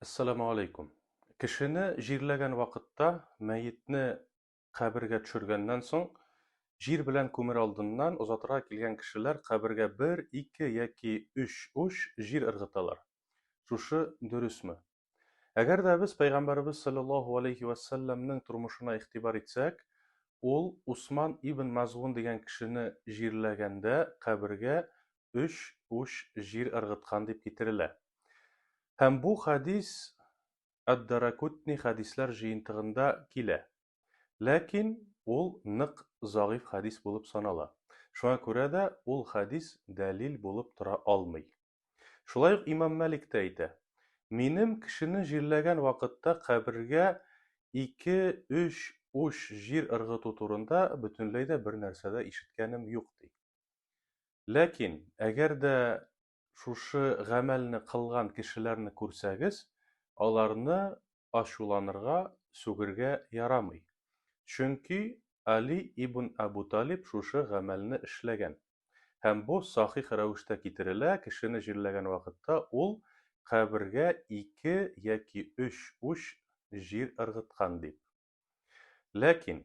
Әссәламу алейкум. Кешене җирләгән вакытта, мәетне кабергә төшергәннән соң, җир белән күмер алдыннан озатырга килгән кешеләр кабергә бер, ике яки өч уч җир ыргыталар. Шушы дөресме? Әгәр дә без Пәйгамбәребез салләллаһу алейһи вә сәлләмнең тормышына игътибар итсәк, ул Усман ибн Мазгун дигән кешене җирләгәндә кабергә өч уч җир ыргыткан дип китерелә. Һәм бу хәдис Ад-Даракутни хәдисләр җыентыгында килә. Ләкин ул нык зәгыйфь хәдис булып санала. Шуңа күрә дә ул хәдис дәлил булып тора алмый. Шулай ук имам Мәлик тә әйтә, Минем кешене җирләгән вакытта кабергә ике, өч уч җир ыргыту турында бөтенләй дә бер нәрсә дә ишеткәнем юк, ди. Ләкин, әгәр дә шушы гамәлне кылган кешеләрне күрсәгез, аларны ачуланырга, сүгергә ярамый. Чөнки Али ибн Әбү Талиб шушы гамәлне эшләгән. Һәм бу сахих рәвештә китерелә, кешене җирләгән вакытта ул кабергә ике яки өч уч җир ыргыткан дип. Ләкин,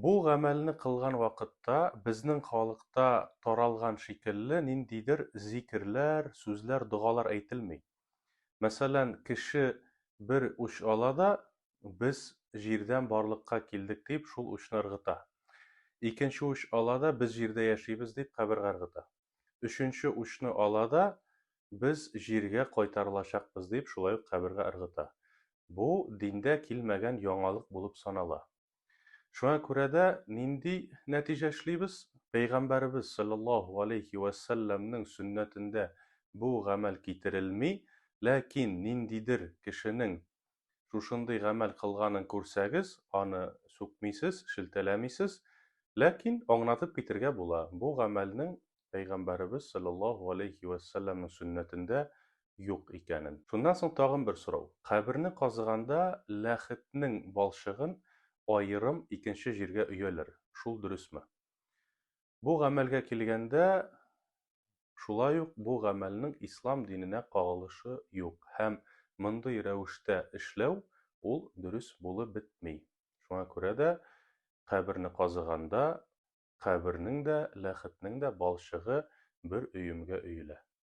Бу гамәлне кылган вакытта безнең халыкта таралган шикелле ниндидер зикерләр, сүзләр, догалар әйтелми. Мәсәлән, кеше бер уч ала да, Без җирдән барлыкка килдек, дип, шул учны ыргыта. Икенче уч ала да, Без җирдә яшибез, дип, кабергә ыргыта. өченче учны ала да, Без җиргә кайтарылачакбыз, дип, шулай ук кабергә ыргыта. Бу диндә килмәгән яңалык булып санала. Шуңа күрә дә нинди нәтиҗә эшлибез? Пәйгамбәребез салләллаһу галәйһи вә сәлләмнең сөннәтендә бу гамәл китерелми, ләкин ниндидер кешенең шушындый гамәл кылганын күрсәгез, аны сүкмисез, шелтәләмисез, ләкин аңнатып китергә була, бу гамәлнең Пәйгамбәребез салләллаһу галәйһи вә сәлләмнең сөннәтендә юк икәнен. Шуннан соң тагын бер сорау. Каберне казыганда ләхетнең балчыгын аерым икенче җиргә өяләр, шул дөресме? Бу гамәлгә килгәндә, шулай ук бу гамәлнең ислам диненә кагылышы юк һәм мондый рәвештә эшләү ул дөрес булып бетми. Шуңа күрә дә каберне казыганда, кабернең дә, ләхетнең дә балчыгы бер өемгә өелә.